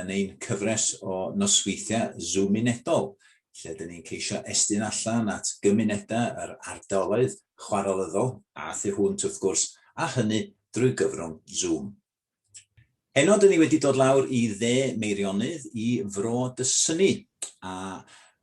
yn ein cyfres o nosweithiau Zoomunedol, lle dyn ni'n ceisio estyn allan at gymunedau yr ardaloedd chwarelyddol a thu hwnt wrth gwrs, a hynny drwy gyfrwng Zoom. Heno dyn ni wedi dod lawr i dde Meirionnydd i Fro Dysynni, a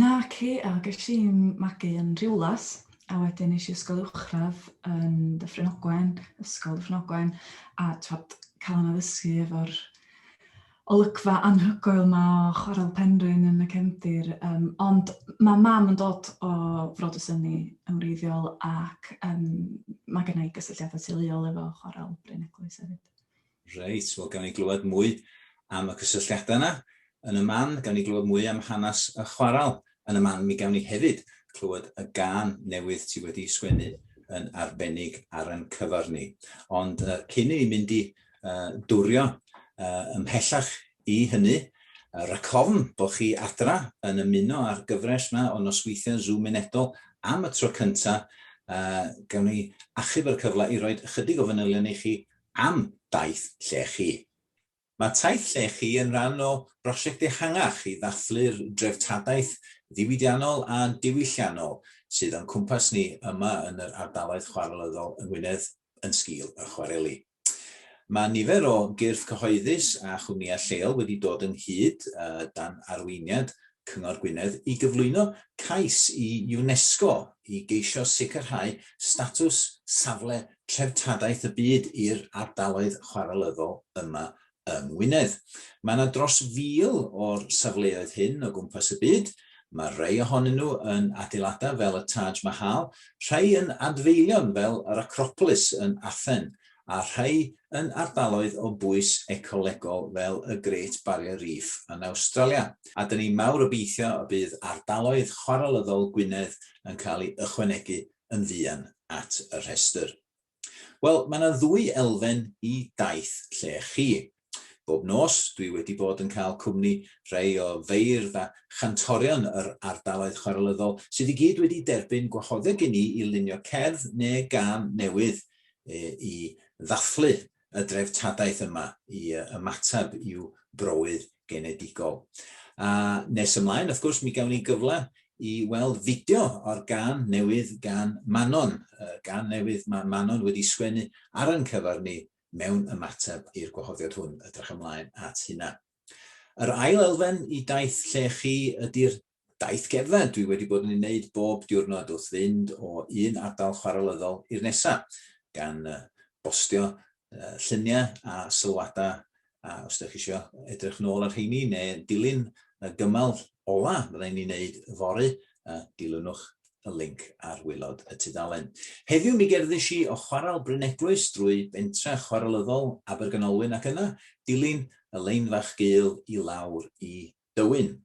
Naci, a ges i'n magu yn Rhiwlas, a wedyn nes i ysgol uwchradd yn Dyffryn Ogwen, ysgol Dyffryn Ogwen, a twad, cael yna ddysgu efo'r olygfa anhygoel yma o Chwarel Penrhyn yn y cefndir. Um, ond mae mam yn dod o Frod y Syni yn wreiddiol ac um, mae gennau gysylltiadau teuluol efo Chwarel Bryn Eglwys hefyd. Reit, wel gawn ni glywed mwy am y cysylltiadau yna yn y man, gawn ni glywed mwy am hanes y chwaral yn y man, mi gawn ni hefyd clywed y gân newydd ti wedi sgwennu yn arbennig ar yn cyfar ni. Ond uh, cyn i ni mynd i uh, dwrio uh, ymhellach i hynny, uh, racofn bod chi adra yn ymuno â'r gyfres yma o nosweithiau Zoom unedol am y tro cyntaf, uh, gawn ni achub yr cyfle i roi ychydig o fanylion i chi Am daith llechi. Mae taith llechi yn rhan o brosiect ehangach i ddathlu'r dreftadaeth ddiwydiannol a diwylliannol sydd o'n cwmpas ni yma yn yr ardaloedd chwarelyddol yng Ngwynedd yn sgil y chwareli. Mae nifer o gyrff cyhoeddus a chwmnïau lleol wedi dod ynghyd, dan arweiniad Cyngor Gwynedd, i gyflwyno cais i UNESCO i geisio sicrhau statws Safle treftadaeth y byd i'r ardaloedd chwarelyddol yma yng Ngwynedd. Mae yna dros fil o'r safleoedd hyn o gwmpas y byd. Mae rhai ohonyn nhw yn adeiladau fel y Taj Mahal, rhai yn adfeilion fel yr Acropolis yn Athen, a rhai yn ardaloedd o bwys ecolegol fel y Great Barrier Reef yn Awstralia. A dyn ni mawr obeithio y bydd ardaloedd chwarelyddol Gwynedd yn cael ei ychwanegu yn fuan at y rhestr. Wel, mae yna ddwy elfen i daith lle chi. Bob nos, dwi wedi bod yn cael cwmni rhai o feirdd a chantorion yr ardaloedd chwarelyddol sydd i gyd wedi derbyn gwahoddiad gen i i lunio cerdd neu gân newydd i ddathlu y dreftadaeth yma i ymateb i'w browydd genedigol. A nes ymlaen, wrth gwrs, mi gawn ni gyfle i weld fideo o'r gan newydd gan Manon, y gan newydd mae Manon wedi sgwennu ar yn cyfer ni mewn ymateb i'r gwahoddiad hwn. Ydrych ymlaen at hynna. Yr ail elfen i daith lle chi ydy'r Daith gerdded dwi wedi bod yn ei wneud bob diwrnod wrth fynd o un ardal chwarelyddol i'r nesa, gan bostio lluniau a sylwadau a os dych chi isio edrych nôl ar rheini neu dilyn y gymal ola fydda i'n ei wneud yfory, dilynwch y linc ar waelod y tudalen. Heddiw mi gerddis i o Chwarel Bryneglwys drwy bentre chwarelyddol Abergynolwyn ac yna dilyn y lein fach gul i lawr i Dywyn.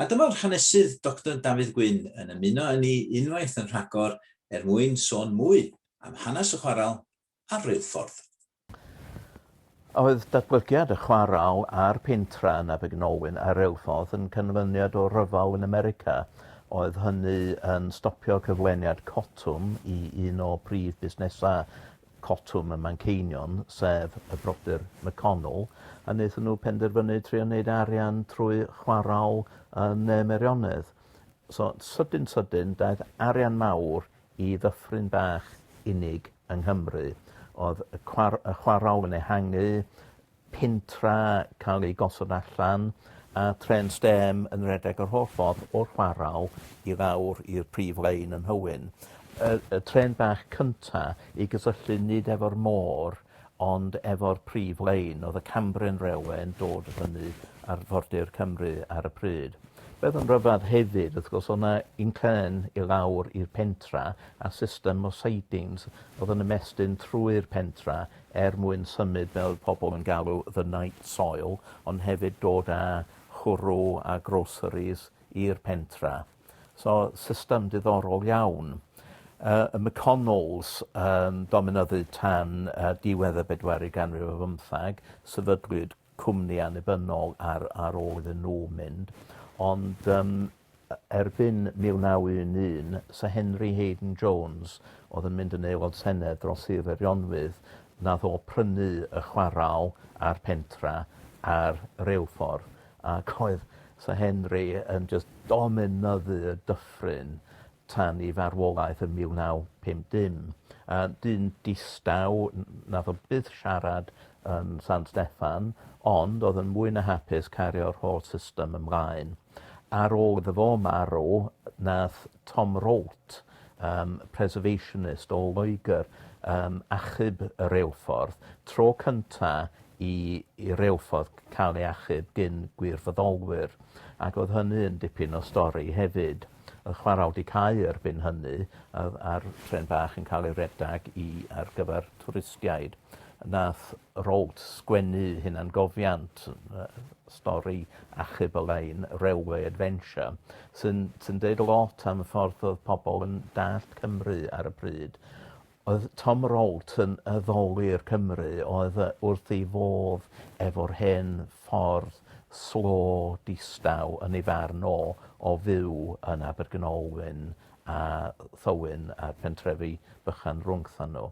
A dyma'r hanesydd Doctor Dafydd Gwyn yn ymuno â ni unwaith yn rhagor er mwyn sôn mwy am hanes y chwarel a'r reilffordd. A oedd datblygiad y chwarel a'r pentra yn Abergynolwyn a'r reilffordd yn canlyniad o ryfel yn America? Oedd hynny yn stopio cyflwyniad cotwm i un o prif busnesau Cotwm y Manceinion, sef y brodyr McConnell, a wnaethon nhw penderfynu trio wneud arian trwy chwarae yn Ne Meirionnydd. So, sydyn sydyn, daeth arian mawr i ddyffryn bach unig yng Nghymru. Oedd y cwar- y chwarae yn ehangu, pentra cael ei gosod allan a trên stêm yn rhedeg yr holl ffordd o'r chwarel i lawr i'r prif lein yn Nhywyn. Y, y trên bach cynta i gysylltu nid efo'r môr ond efo'r prif lein. Oedd y Cambrian Railway yn dod fyny ar Fordir Cymru ar y pryd. Beth yn rhyfedd hefyd, wrth gwrs, o'na inclên i lawr i'r pentra a system o sidings oedd yn ymestyn trwy'r pentra er mwyn symud fel oedd pobl yn galw the night soil ond hefyd dod â chwrw a groceries i'r pentra. So system diddorol iawn. Uh, y McConnells um, dominyddu tan uh, diwedd y bedwerydd ganrif o fymthag, sefydlwyd cwmni annibynnol ar ar ôl iddyn nhw mynd ond yym e- erbyn 1911 Syr Henry Haden Jones odd yn mynd yn aelod senedd dros Sir Feirionnydd nath o prynu y chwarel a'r pentra a'r reilffordd ac oedd Syr Henry yn jyst dominyddu y dyffryn tan ei farwolaeth yn 1950. Yy dyn distaw n- nath o byth siarad yn San Steffan ond odd yn mwy na hapus cario'r holl system ymlaen. Ar ôl iddo fo marw nath Tom Rolt yym preservationist o Loegr yym achub y reilffordd, tro cynta i i reilffordd ca'l ei achub gin gwirfoddolwyr ac odd hynny yn dipyn o stori hefyd. yn chwara aldi cau erbyn hynny a o'dd a'r trên bach yn ca'l ei redag i ar gyfar twristiaid. Nath Rolt sgwennu hunangofiant yy stori achub y lein Railway Adventure sy'n sy'n deud lot am y ffordd odd pobol yn dallt Cymru ar y pryd. Oedd Tom Rout yn addoli i'r Cymry oedd yy wrth ei fodd efo'r hen ffordd slo distaw yn ei farn o o fyw yn Abergynolwyn a Thywyn a'r pentrefi bychan rwngthon nhw.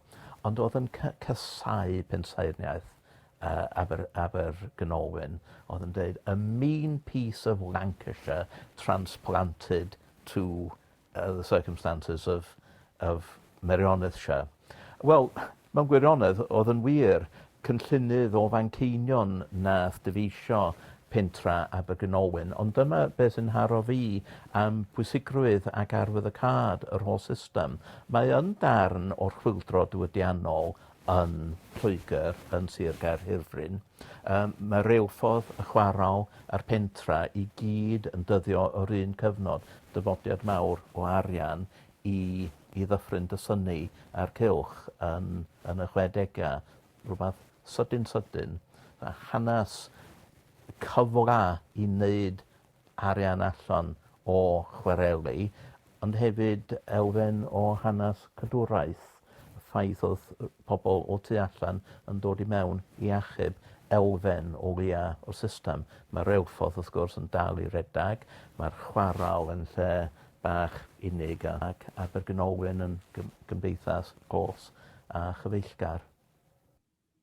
Ond oedd yn ca- casau pensaerniaeth yy Aber- Abergynolwyn. Oedd yn deud a mean piece of Lancashire transplanted to yy the circumstances of of Merioneth shire. Wel, mewn gwirionedd, oedd yn wir, cynllunydd o Fanceinion nath dyfeisio pentra Abergynolwyn, ond dyma be' sy'n nharo fi am pwysigrwydd ac arwyddocâd yr holl system. Mae yn darn o'r chwyldro diwydiannol yn Lloegr, yn Sir Gaerhirfryn. Yym ma reilffordd y chwarel a'r pentra i gyd yn dyddio o'r un cyfnod, dyfodiad mawr o arian i i ddyffryn dy synnu a'r cylch yn yn y chwedega, rwbath sydyn sydyn, a hanas cyfla i neud arian allan o chwareli ond hefyd elfen o hanas cadwraeth y ffaith o'dd yy pobol o tu allan yn dod i mewn i achub elfen o leia' o'r system. Ma' reilffordd wrth gwrs yn dal i redag ma'r chwarel yn lle bach unig a ac Abergynolwyn yn gym- gymdeithas glos a chyfeillgar.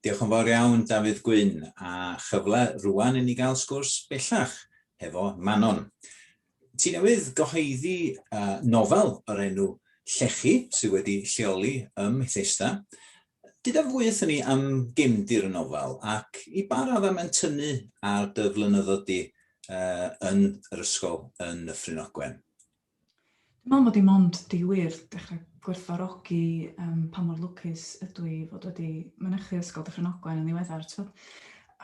Diolch yn fawr iawn Dafydd Gwyn, a chyfle rŵan i ni gael sgwrs bellach hefo Manon. Ti newydd gyhoeddi nofel o'r enw Llechi sydd wedi lleoli ym Mhethesda. Dyda fwy wrthyn ni am gefndir y nofel ac i ba raddau mae'n tynnu ar dy flynyddoedd di yn yr ysgol yn Nyffryn Ogwen? Dwi'n meddwl mod i mond 'di wir dechrau gwerthfawrogi um, pa mor lwcus ydw i fod wedi mynychu Ysgol Dyffryn Ogwen yn ddiweddar, ti'n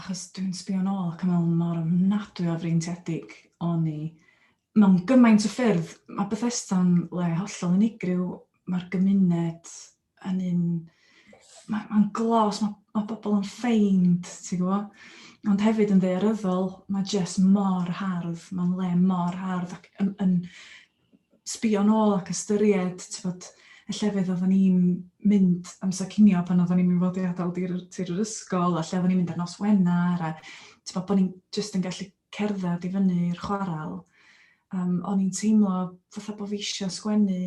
achos dwi'n sbio nôl ac yn meddwl mor ofnadwy o freintiedig o'n i mewn gymaint o ffyrdd. Mae Bethesda'n le hollol unigryw, mae'r gymuned yn un... Mae'n ma glos, mae, ma bobl yn ffeind, ti'n gwybod? Ond hefyd yn ddearyddol, mae jyst mor hardd, mae'n le mor hardd ac yn, yn sbio nôl ac ystyried, ti'n bod, y llefydd oeddwn ni'n mynd amser cinio pan oeddwn ni'n mynd fod i adael tir, tir yr ysgol, a lle oeddwn ni'n mynd ar nos Wener, a ti'n bod, bod ni'n jyst yn gallu cerdded i fyny'r chwarael. Um, o'n i'n teimlo fatha bod fi eisiau sgwennu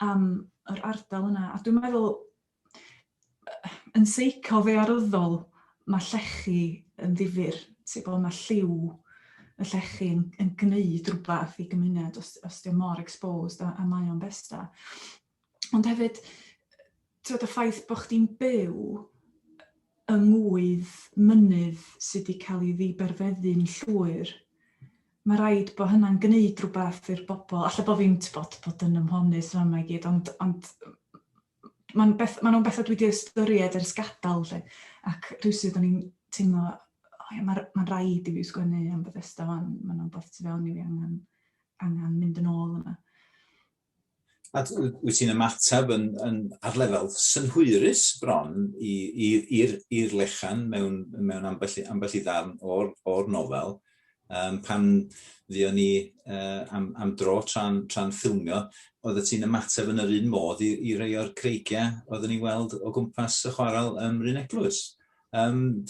am yr ardal yna. A dwi'n meddwl, yn seico fe aryddol, mae llechi yn ddifur. Ti'n bod, mae lliw y llechi yn, yn gwneud rhywbeth i gymuned os, os diolch mor exposed a, a mae o'n besta. Ond hefyd, t'od y ffaith bo' chdi'n byw yng ngŵydd mynydd sy' 'di ca'l 'i ddiberfeddu'n llwyr, ma' raid bo' hynna'n gneud rwbath i'r bobol, alla bo' fi'n t'bod bod yn ymhonus fama i gyd ond ond ma'n beth- ma' nw'n betha dwi 'di ystyried ers gadal 'lly ac rywsut o'n i'n teimlo o ia ma'r ma'n raid i fi sgwennu am Bethesda 'wan ma' 'na wbath tu fewn i fi angan angan mynd yn ôl yna. A wyt ti'n ymateb yn, yn, ar lefel synhwyrus bron i'r lechan mewn, mewn ambell, ambell i ddarn o'r, or nofel, um, pan ddion ni uh, am, am dro tra'n tra ffilmio, oedd y ti'n ymateb yn yr un modd i, i rei o'r creigiau oeddwn ni'n weld o gwmpas y chwarael ym Mryn Eglwys. Um,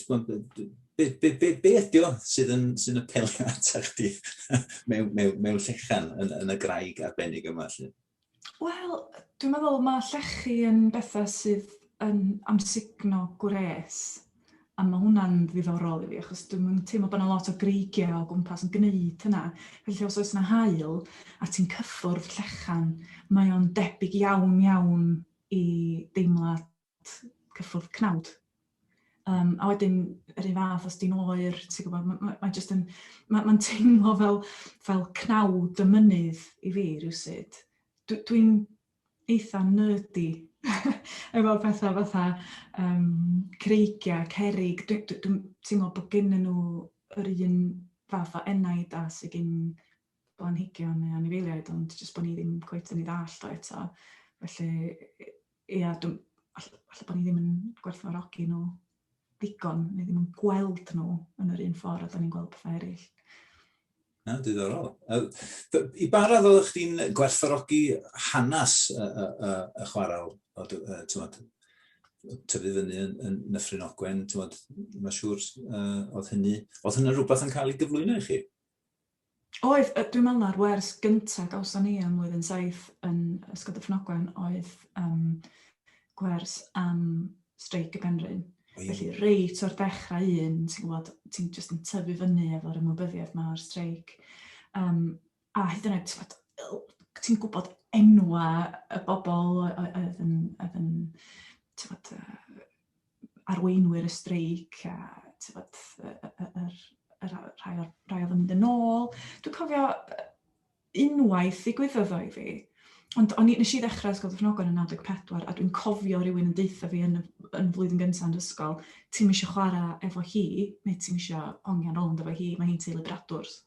be, be, be, be ydy o sydd yn, sy'n apelio ata chdi mewn, mewn, mewn llechan yn, yn y graig arbennig yma? Wel, dwi'n meddwl mae llechi yn bethau sydd yn amsugno gwres a mae hwnna'n ddiddorol i fi achos dwi'n teimlo bod yna lot o greigiau o gwmpas yn gwneud hynna. Felly os oes yna hael a ti'n cyffwrdd llechan, mae o'n debyg iawn iawn i deimlad cyffwrdd cnawd. Um, a wedyn, yr un fath, os di'n oer, ti'n gwybod, mae'n ma, ma just yn, mae'n ma teimlo fel, fel cnawd y mynydd i fi rhywsyd. Dwi'n dwi eitha nerdy efo pethau fatha um, creigiau, cerig. Dwi'n dwi, dwi teimlo bod gen nhw yr un fath o enaid a sydd gen blanhigion neu anifeiliaid, ond jyst bod ni ddim cweith yn ei ddall o eto. Felly, Ia, dw- all- falle bod ni ddim yn gwerthfawrogi nhw ddigon, neu ddim yn gweld nhw yn yr un ffordd a da ni'n gweld pethau eraill. Na, diddorol. I ba radd oeddech chdi'n gwerthfawrogi hanes y, y, y, y chwarael, o, uh, tywod, tyfu fyny yn, yn Nyffryn Ogwen, ti'n bod, mae'n siŵr, uh, oedd hynny, oedd hynny rhywbeth yn cael ei gyflwyno i chi? Oedd, dwi'n meddwl na'r wers gyntaf gawson ni ym mlwyddyn saith yn Ysgol Dyffryn oedd um, gwers am streic y Penrhyn. Felly, reit o'r dechrau un, ti'n gwybod, ti'n just yn tyfu fyny efo'r ymwybyddiaeth mae'r streic. Um, a hyd yn oed, ti'n gwybod, ti'n gwybod enwa y bobl oedd yn, oedd yn ti'n gwybod, arweinwyr y streic a tybod, yr, yr, yr, rhai, o'r, rhai oedd yn mynd yn ôl. Dwi'n cofio unwaith ddigwyddodd o i fi, Ond o'n i, nes i ddechrau Ysgol Dyffnogon yn 94, a dwi'n cofio rhywun yn deutha fi yn, yn flwyddyn gyntaf yn ysgol, ti'n eisiau chwarae efo hi, neu ti'n eisiau hongian rownd efo hi, mae hi'n teulu bradwrs.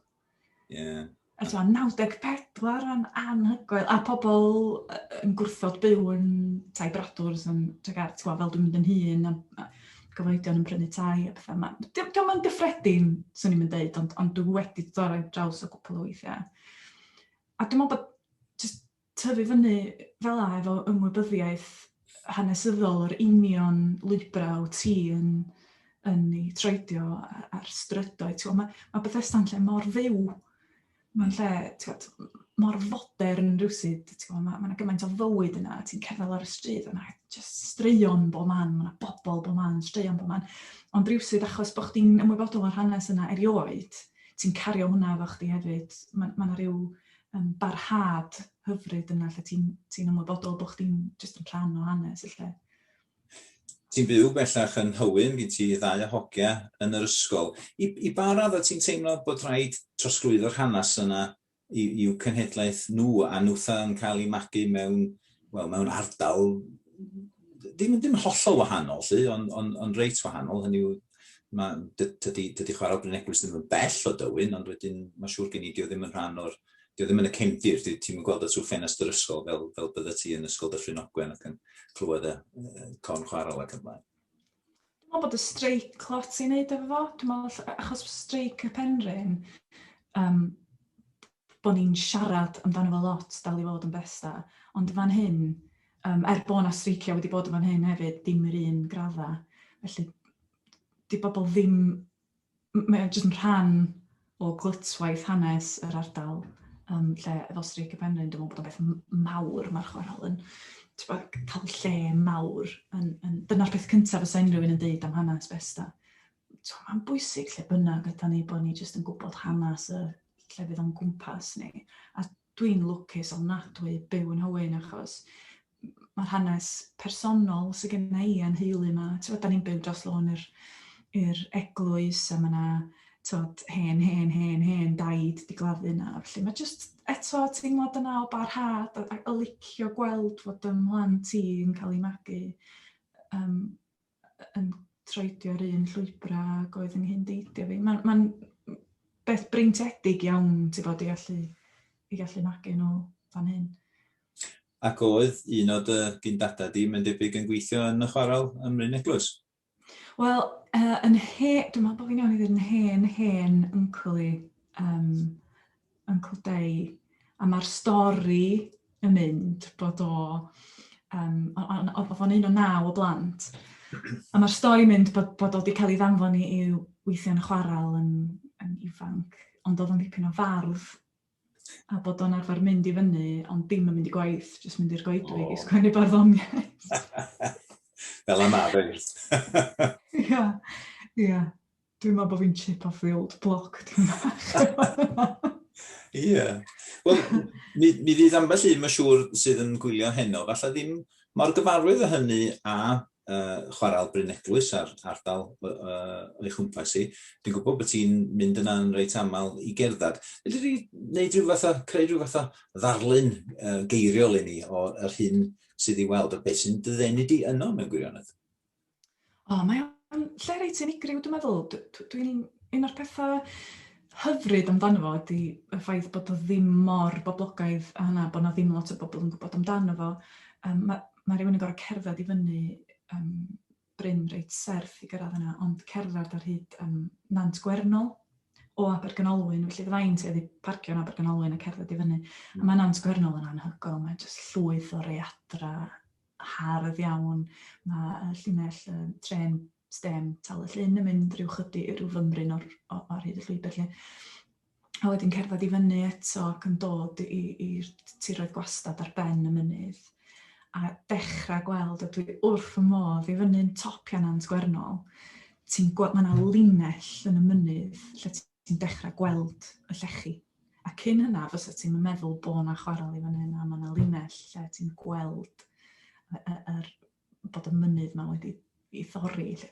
Yeah. A so, 94 yn anhygoel, a pobl yn gwrthod byw yn tai bradwrs yn Tregar, ti'n gwybod, fel dwi'n mynd yn hun, a, a gyfoedion yn prynu tai a pethau yma. Diolch yn mynd gyffredin, swn i'n mynd dweud, ond, ond dwi wedi dod ar draws o gwpl o weithiau. A dwi'n meddwl bod just tyfu fyny fel 'a efo ymwybyddiaeth hanesyddol o'r union lwybrau wyt ti yn yn eu troedio a'r strydoedd. T'mo' ma' ma' Bethesda'n lle mor fyw. Mae'n lle t'mod mor fodern rywsut, t'mo' ma' ma' 'na gymaint o fywyd yna, ti'n cerdded lawr y stryd a ma' jyst straeon bob man, ma' 'na bobl bob man, straeon bob man. Ond rywsut achos bo' chdi'n ymwybodol o'r hanes yna erioed, ti'n cario hwnna efo chdi hefyd. Ma' ma' 'na ryw yn barhad hyfryd yna lle ti'n ti ymwybodol bod chdi'n jyst yn rhan o hanes y lle. Ti'n byw bellach yn Hywyn, gen ti ddau o hogia yn yr ysgol. I, i ba radd o ti'n teimlo bod rhaid trosglwyddo'r hanes yna i'w cenhedlaeth nhw a nhwtha yn cael ei magu mewn wel, mewn ardal ddim, ddim hollol wahanol, lly, ond on, on reit wahanol, hynny yw, mae, dydy, dydy chwarae Bryn Eglwys ddim yn bell o dywyn, ond wedyn mae siŵr gen i, dio ddim yn rhan o'r, dio ddim yn y cefndir, dio ti'n gweld y trwy ffenest yr ysgol fel, fel bydde ti yn ysgol Dyffryn Ogwen ac yn clywed y uh, con chwarae ac yn blaen. Dwi'n meddwl bod y streic lot i'n neud efo fo, dwi'n meddwl, achos streic y penrhyn, um, bod ni'n siarad amdano fo lot, dal i fod yn beth da, ond fan hyn, um, er bod yna streicio wedi bod yn fan hyn hefyd, dim yr un gradda. Felly, di bobl ddim, mae'n jyst yn rhan o glytwaith hanes yr ardal, um, lle efo streic y penrhyn, dwi'n meddwl bod o'n beth mawr mae'r chwarel yn cael lle mawr. Yn, yn, dyna'r peth cyntaf fysa unrhyw un yn dweud am hanes Besta. Tibod, mae'n bwysig lle bynnag ydan ni bod ni jyst yn gwybod hanes y llefydd o'n gwmpas ni. A dwi'n lwcus ofnadwy byw yn Hywyn achos mae'r hanes personol sydd gen i a'n heulu yma. Tibod, da ni'n byw dros lôn yr, yr eglwys a mae yna tod, hen, hen, hen, hen daid di gladdu yna. Felly mae jyst eto teimlad yna o barhad a, a, a licio gweld fod ym mhlant i'n cael ei magu. Um, yn troedio'r un llwybrau ag oedd yn hyn deidio fi. Mae'n ma beth breintiedig iawn, ti'n bod, i allu, i allu magu nhw fan hyn. Ac oedd un o dy gyndadau di, mae'n debyg yn gweithio yn y chwarel ym Mryn Eglwys? Wel, uh, yn he, dwi'n meddwl bod fi'n iawn i ddweud yn hen, hen yncl i, um, yn cwdeu a mae'r stori yn mynd bod o um, oedd o'n un o naw o blant a mae'r stori mynd bod, bod o wedi cael ei ddanfon i i'w weithiau'n chwarael yn, yn ifanc ond oedd o'n dipyn o fardd a bod o'n arfer mynd i fyny ond dim yn mynd i gwaith jyst mynd i'r goedwig oh. i sgwennu barddoniaeth fel yma fe ia ia Dwi'n meddwl bod fi'n chip off the old block, ti'n bach. Ie. Wel, mi, mi fydd ambell un, mae'n siŵr, sydd yn gwylio heno, falle ddim mor gyfarwydd o hynny a uh, chwarael Bryn Eglwys a'r ardal uh, o'i chwmpas i. Dwi'n gwybod bod ti'n mynd yna yn reit aml i gerdded. Felly di wneud rhyw fath o, creu rhyw fath o ddarlun uh, geiriol i ni o'r hyn sydd i weld a beth sy'n dyddenu di yno mewn gwirionedd. O, mae o'n lle reit unigryw dwi'n meddwl. Dwi'n un o'r pethau hyfryd amdano fo ydy y ffaith bod o ddim mor boblogaidd a hynna, bod na ddim lot o bobl yn gwybod amdano fo. Um, mae, mae rhywun yn gorau cerdded i fyny um, bryn reit serth i gyrraedd yna, ond cerdded ar hyd um, Nant Gwernol o Abergynolwyn, felly fydda'n tuedd i parcio yn Abergynolwyn a cerdded i fyny. Mm. A mae Nant Gwernol yn anhygol, mae'n jyst llwyth o readra hardd iawn, mae y llinell yy trên stêm Tal y Llyn yn mynd rhyw chydi, rhyw fymryn o'r o- ar hyd y llwybr 'lly. A wedyn cerdded i fyny eto ac yn dod i i'r tiroedd gwastad ar ben y mynydd a dechrau gweld a dwi wrth fy modd i fyny'n top Nant Gwernol ti'n gweld mae 'na linell yn y mynydd lle ti'n dechrau gweld y llechi. A cyn hynna, fysa ti'n meddwl bod yna chwarel i fan hyn, a mae yna linell lle ti'n gweld yr, bod y mynydd yma wedi ei thorri. Lle.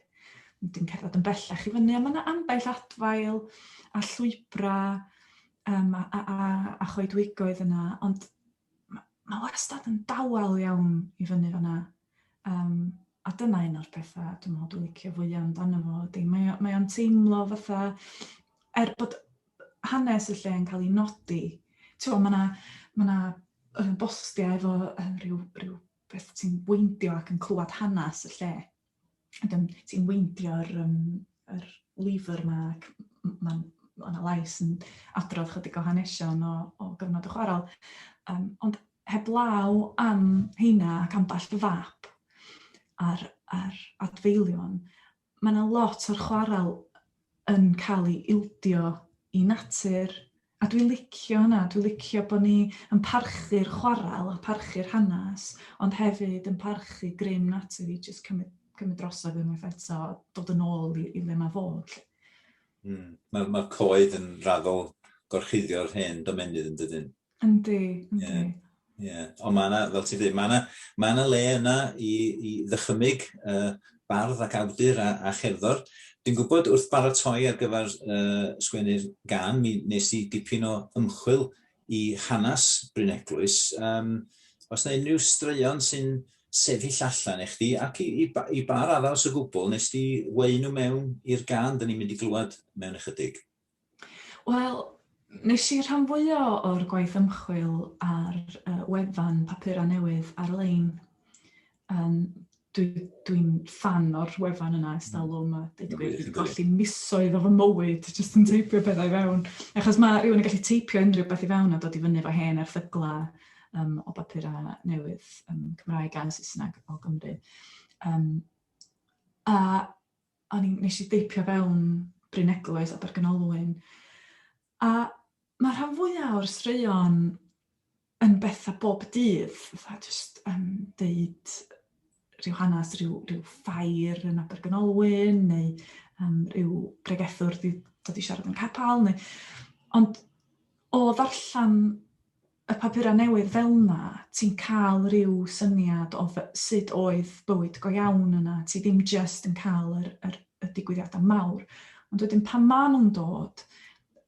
Dwi'n cerdded yn bellach i fyny, a mae yna ambell adfail a llwybrau um, a, a, a, a choedwigoedd yna, ond mae ma wastad yn dawel iawn i fyny fanna. Um, a dyna un o'r pethau dwi'n meddwl dwi'n licio fwyaf amdano fo ydy, mae, mae o'n teimlo fatha, er bod hanes y lle yn cael ei nodi, ti'n mae yna ma na, uh, bostiau efo uh, rhyw, rhyw beth ti'n bwyndio ac yn clywed hanes y lle. ac yn ti'n weindio'r um, yr lyfr yma ac mae'n ma yna lais yn adrodd chydig o hanesion o, o gyfnod y chwarael. Um, ond heblaw am heina ac ambell fap ar, ar adfeilion, mae yna lot o'r chwarael yn cael ei ildio i natur, A dwi licio hynna, dwi licio bod ni yn parchu'r chwarel a parchu'r hanes, ond hefyd yn parchu grym natur i jyst cymryd, cymryd drosodd unwaith eto, dod yn ôl i, i le mae fod. Mm. Mae'r ma coed yn raddol gorchuddio'r hen domenydd yn dydyn. Yndi, yndi. Yeah. Ie, yeah. ond mae yna, fel ti'n dweud, mae yna, mae yna le yna i, i ddychymyg uh, bardd ac awdur a, a cherddor. Dwi'n gwybod wrth baratoi ar gyfer uh, sgwennu'r gan, mi nes i dipyn o ymchwil i hanes Bryn Eglwys. Um, os yna unrhyw straeon sy'n sefyll allan i chdi, ac i, i, i bar arall o gwbl, nes di wein nhw mewn i'r gan, dyn ni'n mynd i glywed mewn ychydig. Wel, nes i rhan fwya o'r gwaith ymchwil ar uh, wefan papurau newydd ar-lein. Um, Dwi'n dwi fan o'r wefan yna ers talwm a dweud y gwir, dwi golli misoedd o fy mywyd jyst yn teipio pethau i fewn. Achos mae rhywun yn gallu teipio unrhyw beth i fewn a dod i fyny fo hen erthygla um, o bapurau newydd um, Cymraeg a Saesneg o Gymru. Um, a o'n i'n nes i deipio fewn Bryn Eglwys, Abergynolwyn, a mae'r rhan fwyaf o'r straeon yn bethau bob dydd, fatha jyst yn deud rhyw hanes rhyw, rhyw ffair yn Abergynolwyn, neu um, rhyw bregethwr wedi dod i siarad yn capel, neu... Ond o ddarllen y papurau newydd fel 'na, ti'n cael rhyw syniad o sut oedd bywyd go iawn yna, ti ddim jyst yn cael yr, yr, y digwyddiadau mawr. Ond wedyn pan maen nhw'n dod,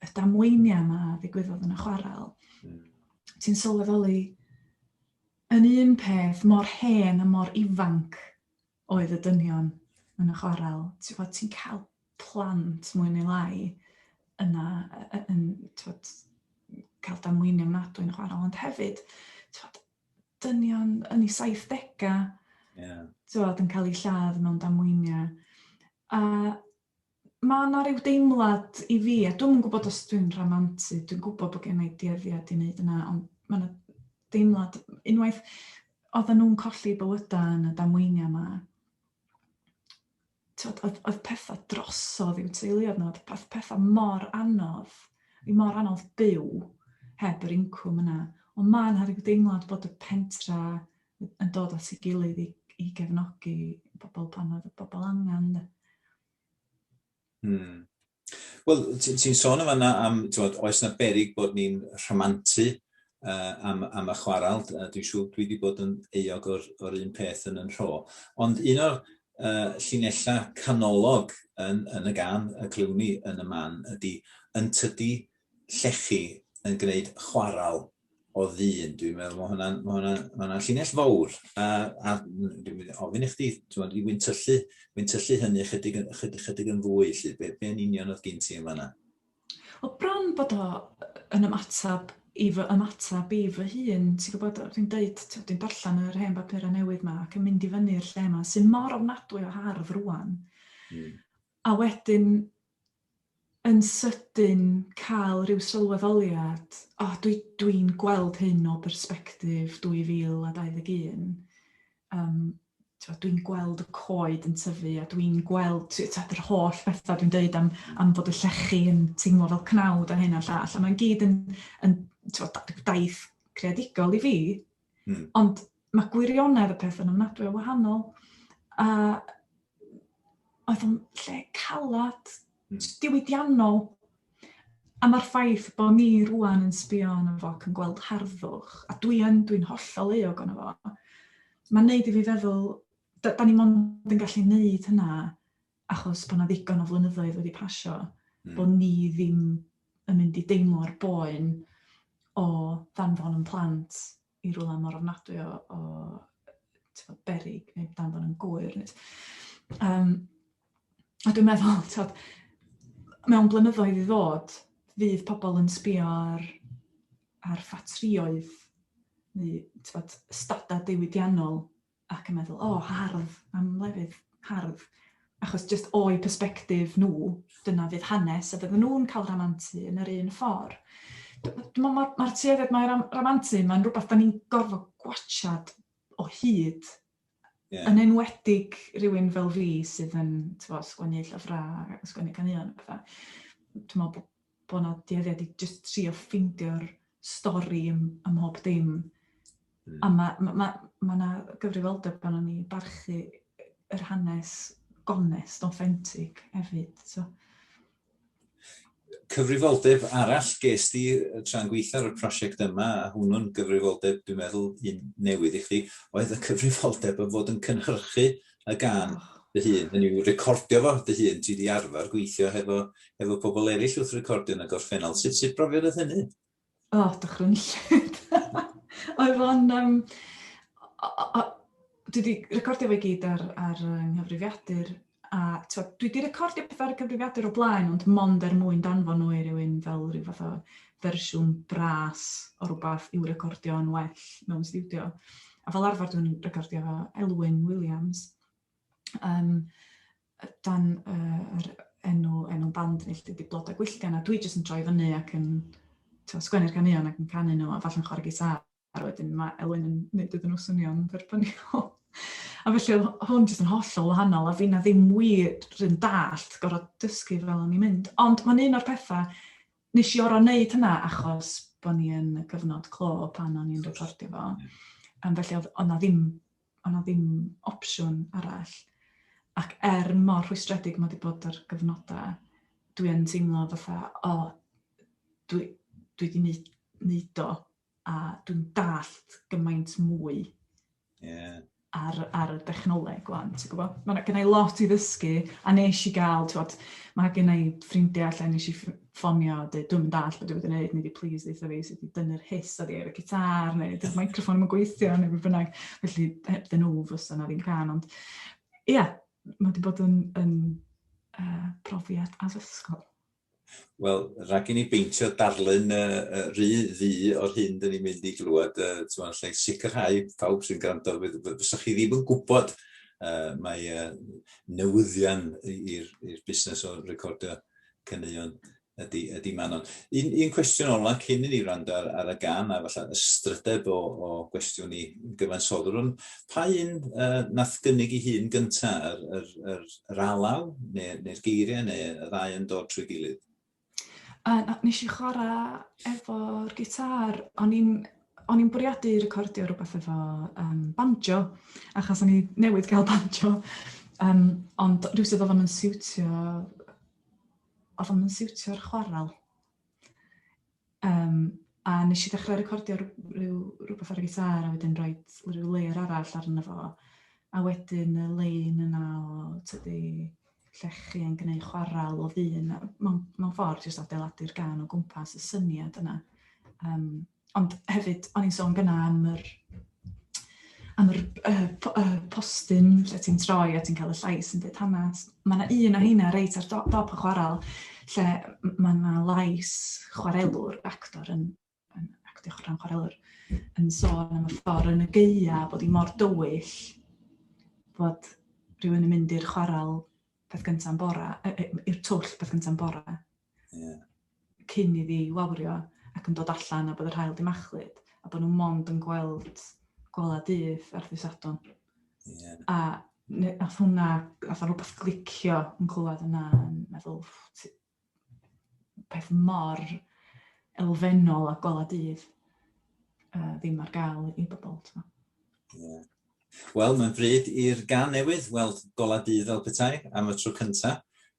y damweiniau yma ddigwyddodd yn y chwarel, hmm. ti'n sylweddoli yn un peth mor hen a mor ifanc oedd y dynion yn y chwarel. Ti'n fod, ti'n cael plant mwy neu lai yna yn tywed, cael damweiniau mnadwy yn y chwarel, ond hefyd, tywed, dynion yn ei 70au, yeah. tywed, yn cael ei lladd mewn damweiniau. A ma' 'na ryw deimlad i fi, a dwi'm yn gwybod os dwi'n rhamantu, dwi'n gwybod bod gen i dueddiad i wneud yna, ond ma' 'na deimlad, unwaith oedden nhw'n colli bywydau yn y damweiniau yma, t'od oedd oedd pethau drosodd i'w teuluoedd nhw, oedd peth- pethau mor anodd, i mor anodd byw heb yr incwm yna. Ond ma' 'na ryw deimlad bod y pentra yn dod at ei gilydd i, i gefnogi pobl pan oedd y pobl angen. Hmm. Wel, ti'n ti sôn yma am, ti'n oes na berig bod ni'n rhamantu uh, am, am y chwarael. Uh, dwi'n siŵr dwi wedi bod yn euog o'r, or un peth yn yn rho. Ond un o'r uh, llinellau canolog yn, yn y gan y clywn yn y man ydy yn tydi llechi yn gwneud chwarael o ddyn. Dwi'n meddwl mae hwnna'n ma hwnna, ma hwnna llinell fawr. A, a dwi'n mynd ofyn i chdi, ti'n meddwl, wy'n tyllu, wy'n tyllu hynny chydig, chydig, chydig yn fwy, lle, be, be yn union oedd gen ti yn fanna? O bron bod o yn ymateb i fy ymateb i fy hun, ti'n gwybod, dwi'n deud, dwi'n darllen yr hen bapurau newydd yma ac yn mynd i fyny'r lle yma, sy'n mor ofnadwy o hardd rwan. Mm. A wedyn, yn sydyn cael rhyw sylweddoliad, o, dwi, dwi'n gweld hyn o bersbectif 2021. Um, dwi'n gweld y coed yn tyfu a dwi'n gweld tad, yr holl bethau dwi'n dweud am, am bod y llechi yn teimlo fel cnawd a hyn a llall. A mae'n gyd yn, yn daith creadigol i fi, Mm. Ond mae gwirionedd y peth yn ymnadwy o wahanol. A oedd o'n lle calad, mm. diwydiannol. A mae'r ffaith bod ni rwan yn sbio yn y fo ac yn gweld harddwch, a dwi yn, dwi'n hollol eog yn y fo, mae'n neud i fi feddwl, da, da ni mond yn gallu neud hynna achos bod 'na ddigon o flynyddoedd wedi pasio... mm. ...bod ni ddim yn mynd i deimlo'r boen o ddanfon yn plant i rwla mor ofnadwy o, o tywed, berig neu danfon yn gwyr. Um, a dwi'n meddwl, tywed, mewn blynyddoedd i ddod, fydd pobl yn sbio ar, ar ffatrioedd neu tywed, stadau diwydiannol ac yn meddwl, o, hardd, am lefydd hardd. Achos jyst o'i perspektif nhw, dyna fydd hanes, a fydden nhw'n cael ramantu yn yr un ffordd. Dwi'n meddwl mae'r mae tueddiad mae ram, ramantu, mae'n rhywbeth da ni'n gorfod gwachad o hyd. Yeah. Yn enwedig rhywun fel fi sydd yn tyfo, sgwennu llyfrau, sgwennu caneuon a pethau. Dwi'n meddwl bod bod 'na dueddiad i jyst trio ffeindio'r stori ym ym mhob dim. Mm. A ma' ma' ma' ma' 'na gyfrifoldeb arnon ni barchu yr hanes gonest, authentic hefyd, so. Cyfrifoldeb arall ges di tra'n gweithio ar y prosiect yma, a hwnnw'n gyfrifoldeb dwi'n meddwl un newydd i chdi, oedd y cyfrifoldeb o fod yn cynhyrchu y gân dy hun, hynny yw recordio fo dy hun, ti wedi arfer gweithio hefo, hefo pobl eraill wrth recordio yn y gorffennol, sut, sut brofiad oedd hynny? O, oh, dychrynllyd. oedd o'n... Um, dwi wedi recordio fe gyd ar, ar nghyfrifiadur a twa, dwi wedi recordio pethau ar y cyfrifiadur o blaen ond mond er mwyn danfon nhw i rywun fel rhyw fath o fersiwn bras o rhywbeth i'w recordio yn well mewn studio. a fel arfer dwi'n recordio fo Elwyn Williams, um, dan uh, yr enw, enw band ni, lle di Blodau Gwyllgan, a dwi jyst yn troi fyny ac yn sgwennu'r caneuon ac yn canu nhw, a falle'n chwarae gitar, a wedyn mae Elwyn yn gwneud iddyn nhw swnio'n dderbyniol. a felly oedd hwn jyst yn hollol wahanol, a fi na ddim wir yn dallt gorau dysgu fel o'n i'n mynd. Ond mae'n un o'r pethau Nes i oro neud hynna achos bo' ni yn y cyfnod clo pan o'n i'n recordio fo. Yym felly o'dd o' 'na ddim o' 'na ddim opsiwn arall. Ac er mor rhwystredig ma' 'di bod yr gyfnoda dwi yn teimlo fatha o dwi dwi 'di neu- neud o. a dwi'n dallt gymaint mwy yeah. ar, ar y dechnoleg gwan, ti'n gwybod? Mae gen i lot i ddysgu, a nes i gael, ti'n gwybod, mae gen i ffrindiau allan nes i ffonio, a dweud, dwi'n mynd all beth dwi wedi gwneud, neu please ddeitha fi sut i dynnu'r hys ar ei ar y gitar, neu dy'r microfon yn gweithio, neu beth bynnag. Felly, heb dyn nhw, fysa na ddim can, ond ia, yeah, mae wedi bod yn, yn uh, profiad addysgol. Wel, rhag i ni beintio darlun yy yy rhy ddu o'r hyn 'dyn ni'n mynd i glywed yy t'mo' alla i sicrhau pawb sy'n grando fydd fy- fysa chi ddim yn gwbod yy mae yy newyddion i- i'r i'r busnes o recordio caneuon ydi ydi Manon. Un un cwestiwn ola cyn i ni wrando ar ar y gân a falla ystrydeb o o gwestiwn i gyfansoddwr on' pa un yy nath gynnig 'i hun gynta yr yr yr Yr alaw, neu'r neu geiriau, neu y ddau yn dod trwy gilydd? Uh, nes i chwarae efo'r gitar, o'n i'n o'n i'n bwriadu recordio rhywbeth efo um, banjo, achos o'n i newydd gael banjo, um, ond rhywbeth oedd o'n yn siwtio, oedd o'n yn siwtio'r chwarel. Yym, a nes i ddechrau recordio rhyw, rhywbeth ar y gitar a wedyn rhoi rhyw layer arall arno fo. A wedyn y lein yna o tydi llechi yn gwneud chwarael o ddyn. Mae'n ma ffordd jyst adeiladu'r gan o gwmpas y syniad yna. Um, ond hefyd, o'n i'n sôn gyna am yr am yr uh, uh, postyn lle ti'n troi a ti'n cael y llais yn dweud hanes. Mae yna un o heina reit ar dop, dop y chwarael lle mae yna lais chwarelwr, actor yn, yn actio chwarae'n chwarelwr, yn sôn am y ffordd yn y geia bod i mor dywyll bod rhywun yn mynd i'r chwarael peth gyntaf yn bora, i'r twll peth gyntaf yn bora, Ie. cyn iddi wawrio ac yn dod allan a bod yr haul 'di machlud a bod nhw mond yn gweld gola dydd ar ddydd Sadwrn. Ie. A ne- nath hwnna fatha rwbath glicio yn clywed yna yn meddwl t- peth mor elfennol a gola dydd uh, ddim ar gael i bobl. t'mo'. Ie. Wel, mae'n bryd i'r gan newydd weld gola dydd fel petai am y tro cynta.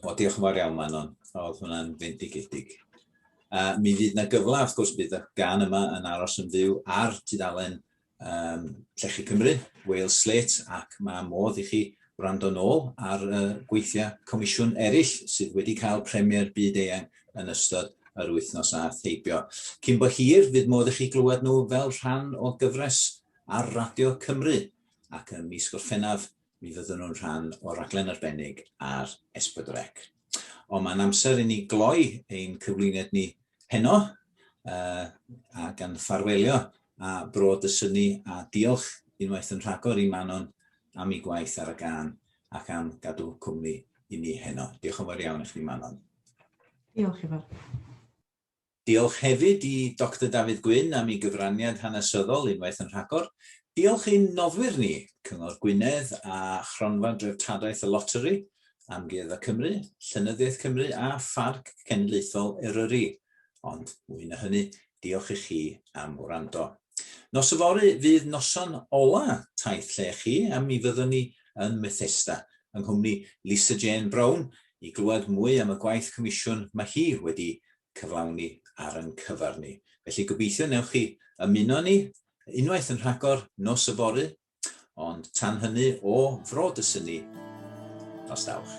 O, diolch yn fawr iawn, Manon. Oedd hwnna'n fendigedig. A mi fydd yna gyfle, wrth gwrs, bydd y gan yma yn aros yn fyw ar tudalen um, Llechi Cymru, Wales Slate, ac mae modd i chi wrando nôl ar uh, gweithiau comisiwn eraill sydd wedi cael premier byd eang yn ystod yr wythnos a theibio. Cyn bo hir, fydd modd i chi glywed nhw fel rhan o gyfres ar Radio Cymru, ac ym mis Gorffennaf mi fyddwn nhw'n rhan o'r raglen arbennig ar S4C. Ond mae'n amser i ni gloi ein cyflwyniad ni heno uh, a gan ffarwelio a bro dysynu a diolch unwaith yn rhagor i Manon am ei gwaith ar y gan ac am gadw cwmni i ni heno. Diolch yn fawr iawn i chdi Manon. Diolch i fawr. Diolch hefyd i Doctor Dafydd Gwyn am ei gyfraniad hanesyddol unwaith yn rhagor. Diolch i'n noddwyr ni, Cyngor Gwynedd a Chronfa Dreftadaeth y Loteri, Amgueddfa Cymru, Llenyddiaeth Cymru a Pharc Cenedlaethol Eryri. Ond mwy na hynny, diolch i chi am wrando. Nos yfory fydd noson ola Taith Lle chi a mi fyddwn ni yn Methesda yng nghwmni Lisa Jane Brown i glywed mwy am y gwaith comisiwn mae hi wedi cyflawni ar yn cyfer ni. Felly gobeithio newch chi ymuno ni unwaith yn rhagor nos yfory, ond tan hynny o Fro Dysynni, nos dawch.